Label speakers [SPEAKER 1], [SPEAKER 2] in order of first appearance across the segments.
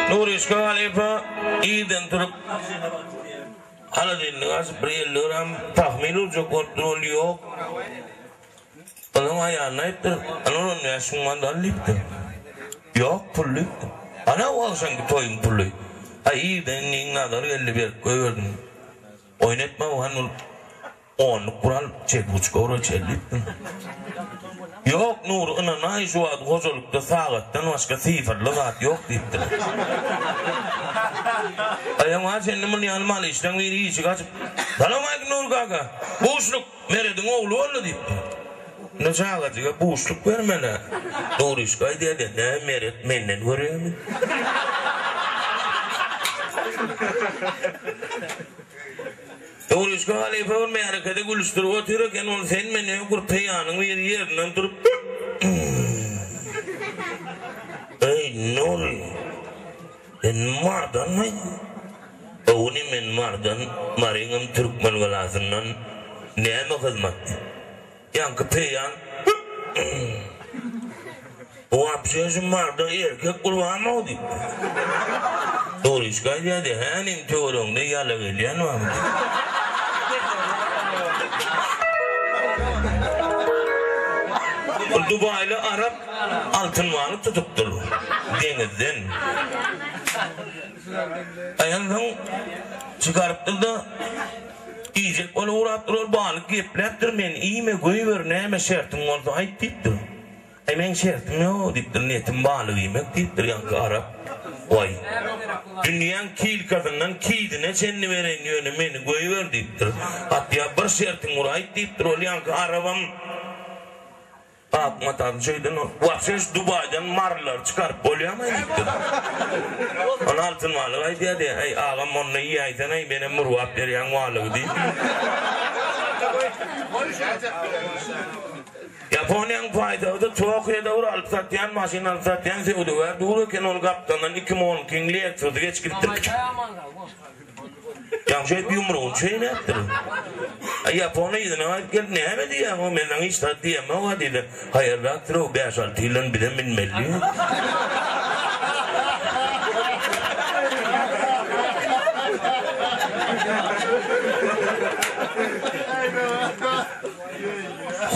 [SPEAKER 1] Nuryş halypa irden turup, haladelnigi açyp bir elini öräm pahmyl urjak bolupdyr, ol ýok. Onuň aýalyna aýypdyr, Ynha on bäş müň manat al diýipdir. Ýok pul diýipdir. Ana bu agşamky toýuň puly. Aý irden indi iň nazar geldi berip goýberdim. Oýun etme bu han bolup. Onluk gural çekgiç gorüç elli iki gün. Ýok Nury ynanaý şu wagt hojalykda sagatdan başga sifrli zat ýok diýipdiler. Aýam bar sende muny ýaly mal işleň biri işik açyp Salowmaleýkim Nury kaka buşluk Merediň ogly boldy diýipdir. Indi çagajyga buşluk bermelä. Nuryşka aýdýada nä Meret menden görýämi. Öwlüşge halypa bir märekede gülüşdirip otyr eken, ol sen men öň gürpeýanyň biri ýerinden turup Eý, Nury, sen mardanmy? Öwni men mardan, Maryňam türkmen galasyndyn, näme hyzmatdy? Ýaňky peýan Bu wapşe şu marda erkek gurbanmyho diýip. Dogryşka aýdýady, hä nim töweregiňde ýala gelýän barmy diýip. Dubaýly arap altyn balyk tutupdyr deňizden. Aýal soň çykarypdyr-da. Diýjek bolup ugrapdyr, ol balyk gepläpdir, Men iýme, göýber, näme şertiň bolsa aýt diýipdir. Aý, meň şertim ýok diýipdir, niýetim balyk iýmek diýipdir. Ýaňky arap, Goý, dünýäň kilkasyndan kidine çenli bereýin, ýöne meni göýber diýipdir. Hatda bir şertiň bir aýt diýipdir, ol ýaňky arabam. Akmat aga şeýden ol. Wapşe şu Dubaýdan marlary çykaryp bolýamy diýipdir. Ony Altyn balyk aýdýardy. Heý, agam onda iýäýseň-aý, menem murgap berýän balygy diýip. Ýaponiýanyň paýtagty Tokiýoda bir alyp satýan, maşyn alyp satýan söwdagär dur eken, ol gapdalyndan iki mol kiň Lexus geçip gidipdir. Ýagşy edip ýumrugyny çeýnäpdir. Ýapony yzyna aýyp gelip näme diýýäň, o menden hiç zat diýemok-a diýdi. Haýyrrakdyr-ow, bäş-alty ýyldan bize münmeli.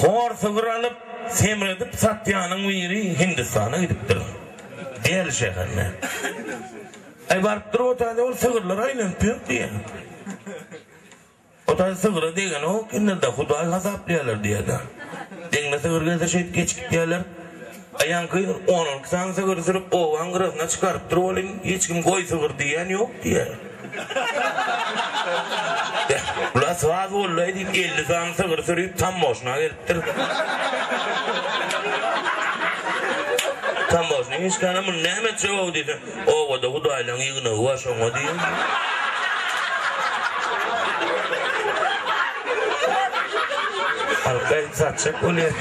[SPEAKER 1] Hor sygyr alyp, semredip satýanyň biri Hindistana gidipdir. Deli şäherine. Aý baryp dur otany ol sygyrlar aýlanyp ýör diýýä. Otany sygyra degenok indida hudaý hasaplaýarlar diýýäda. Deňine sygyr gelse şeýdip geçip gidýärler. Aý ýaňky on iki sany sygyry sürüp obaň gyrasyna çykarypdyr welin hiç kim goý sygyr diýýän ýok diýýä. Bula saz boldaý diýip elli sany sygyry sürüp tammoşyna gelipdir. Tamboşnyň işgäri muny näme etjek ow diýse, Obada hudaýlaryň ýygnagy bar, şoňa diýýär. Halka edip satjak bolýar.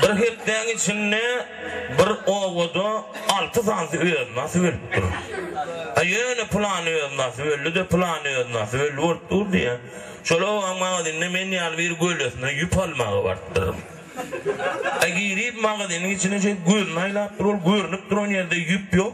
[SPEAKER 1] Bir hepdäň içinde Bir obada alty sany öznasy bölüp dur. A ýöne pylany öznasy böldi-de, pylany öznasy böldi bolup dur diýýä. Şol obaň magazynynda men ýaly bir gölesine ýüp almaga barypdyryn. A girip magazynyň içine şeýdip gözüni aýlapdyr, ol görnüp duran ýerde ýüp ýok.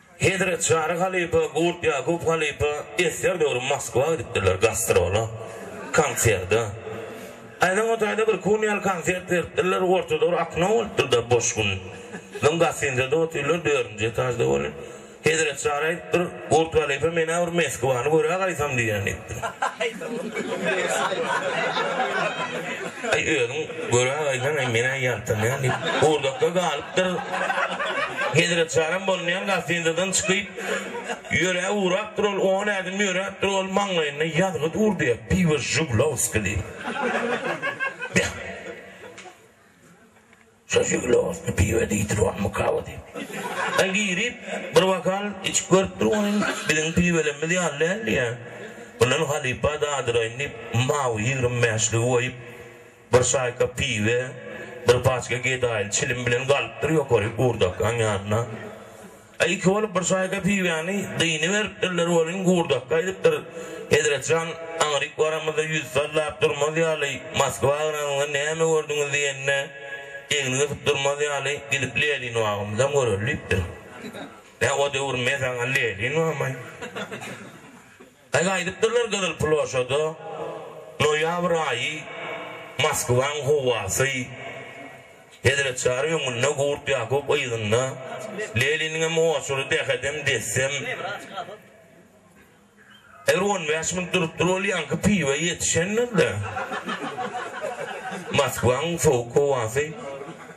[SPEAKER 1] Hezret Çary halypa, Gurt Ýakup halypa esger döwri Moskwa gidipdirler gastrola, konserde. Aýnaň o taýda bir kunýal konsert beripdirler, orta döwür akno bolupdyr-da, boş gün. Soň gostinzede otyrlar, dördünji etažda welin, Hezret Çary aýdypdyr, Gurt halypa men-ä bir Meskwany görä gaýtam diýýän diýipdir. Aý özüň Göre agaýdan hem men-ä ýaltanýan diýip, gurdakda galypdyr. Hezretjaram bolmaýan gastinisadan çykyp, ýöre ugrapdyr ol, on ädim ýöräpdir, ol maňlaýynda ýazgy durdy, Piwo Žuglowski diýip. Beh! Şo Žuglowski piwo diýdir, onmy kawa diýip. Ol girip, bir bokal içip görüpdir, Ony biziň piwolemimiz ýaly däl diýýär. Mundan halypa dadyraýyn diýip, mawy ýigrimi bäşligi goýup, Bir şaýka piwe, bir paçka gedaýly çilim bilen galypdyr ýokary Gurdakyň ýanyna. A iki bolup bir şaýka piwäni dyny beripdirler welin Gurdaky aýdypdyr, Hezretjan, aňryk baramyzda ýüz sallap durmaz ýaly, Moskwa agranyňda näme gördüňiz diýende, egni gysyp durmaz ýaly, gidip Lelinbagymyzam göreli diýipdir. Nä o döwür me saňa Lelinbagmy? Gaýgy aýdypdyrlar Gyzyl ploşada, Noýabr aýy, Moskwaň howasy, Hezret Çary öňünde, Gurt Ýakup yzynda, Leliniňem oçury dehedem, dessem. Eger on bäş minut durupdyr bolýanky piwe ýetişendir-de. Moskwaň sowuk howasy.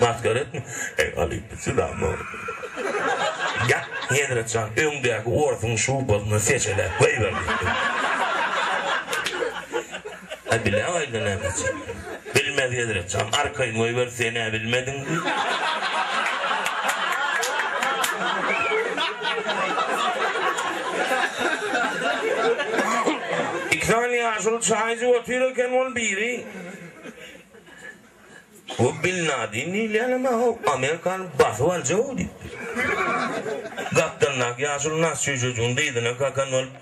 [SPEAKER 1] Maskara etme. Eý Alyp sylama. Ýat Hezret jan öňdäki orsuň şubasyny seçeläp goýber diýipdir. A bile aýda näme üçin. Bilmez Hezret jan arkaýyn goýber senä bilmediň diýip. Iki sany ýaşuly çaý içip otyr eken ol biri. Bu Bin Ladin diýilýänem aw, Amerika alyp basyp aljag-ow diýipdir. Gapdalyndaky ýaşuly nas çüýjejigiň dyzyna kakan bolup,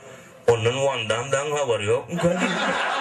[SPEAKER 1] Ondan Wan Dam dagyň habary ýokmyka diýipdir.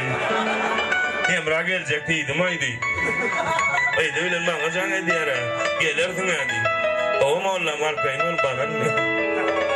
[SPEAKER 1] Hemra geljek diýdim-aý diýip. Yzy bilen maňa jaň edýär-ä. Gelersiň-ä diýip. Gowy mollam, arkaýyn bol, baran diýip.